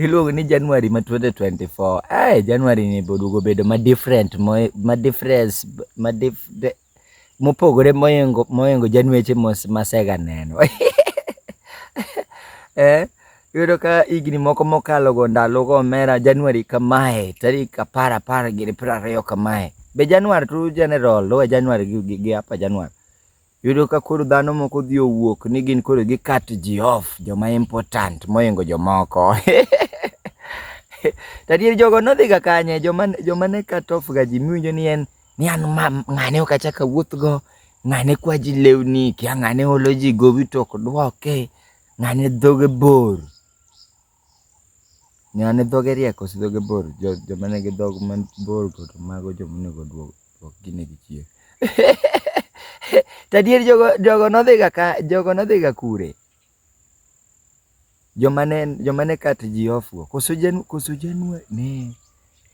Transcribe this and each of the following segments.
iluongo ni January ma 2024. Eh, January ni bodugo bedo ma different, ma difference, ma dif, de, mopogore moyengo moyengo January mos masega neno. eh, yudo ka higni moko mokalo go ndalo go mera January kamae, tarik apar apar gi piero ariyo kamae. Be January tu general, lowe January gi, gi, gi apa January. Yudo ka koro dhano moko dhi owuok ni gin koro gi cut ji off joma important moingo jomoko. Tadier jogo nodhi ga kanye joma joma ne cut off ga ji miwinjo ni en ni an ma ng'ane ok achak awuoth go, ng'ane kwa ji lewni, kia ng'ane olo ji gowi to ok dwoke, ng'ane dhoge bor. Ng'a ni dhoge riek koso dhoge bor? Joma nigi dhok mabor go to mago joma onego oduok duok ginegi chien. To adier jogo jogo nodhi ga ka jogo nodhi ga kure? Joma ne joma ne cut ji off go koso janu koso januari ne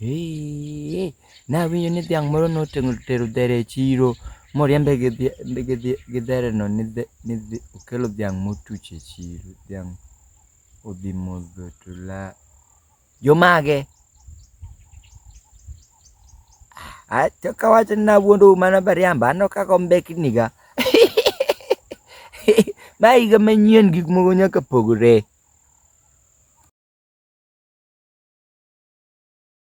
eeii. Nawinjo ni dhiang' moro notero notero dhere e chiro moriembe gi dhi gi dhi gi dhere no ni dhi ni dhi okelo dhiang' motuch e chiro dhiang'. odhi modho to la jomage to kawacho ni nawuondou mana bariamba aneno kaka ombekniga ma higa manyien gik moko nyaka pogre